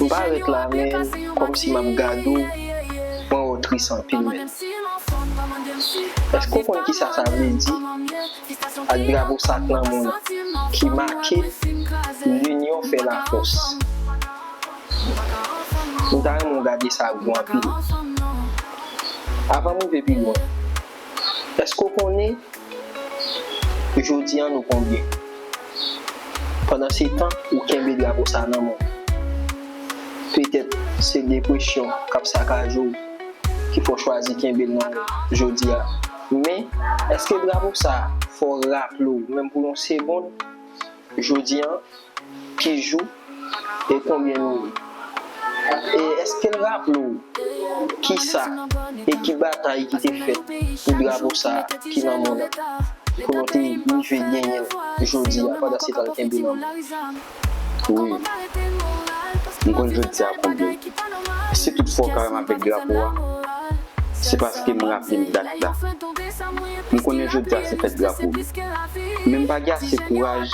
M pa ret la menm komsi map gad ou mwen wè w tris anpil menn. Eske w konn kisa sa vle di ak drapo sa k nan men w lan ki make linyon fè la fos. M ta renmen w gade sa gou anpil. Avan m rive pi lwen. Eske w konnen jodi an nou konbyen? Pandansetan ou kenbe drapo sa nan men w. Petèt se depresyon k ap sakaje w ki fè w chwazi kenbe l nan men w jodi a. Men, eske drapo sa fè w raple w menm pou yon segond jodi an? Ki jou e konbyen nou ye? E èske l raple w kisa e ki batay ki te fèt pou drapo sa a ki nan monn an, pou nou te rive genyen l jodi a pandan se tan l kenbe nan men nou? Wi, m konn jodi a konbyen l. Si toutfwa w kare m avèk drapo a, se paske m raple m dat la. M konnen jodi a se fèt drapo nou, men m pa gen ase kouraj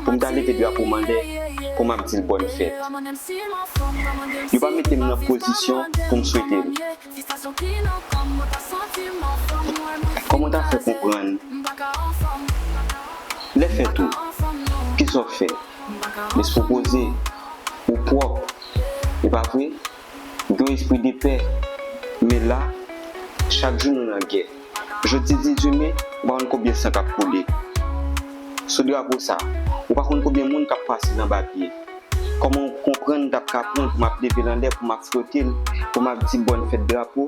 pou m ta leve drapo mandè pou m ap di l bòn fèt. Yo pa mete m nan pozisyon pou m swete l. Kòman w ta fè konprann lè fèt ou? Kisa w fè? Lespri w poze? Ou pwòp, e pa vre? Gen yon espri de pè. Men la, chak jou nou nan gè. Jodi 18 me, ou pa konn konbyen san k ap koule. Sou drapo sa, ou pa konn konbyen moun k ap pase nan ba pye. Kòman ou konprann m t ap ka pran pou m ap leve l anlè, pou m ap fwote l, pou m ap di bòn fèt drapo?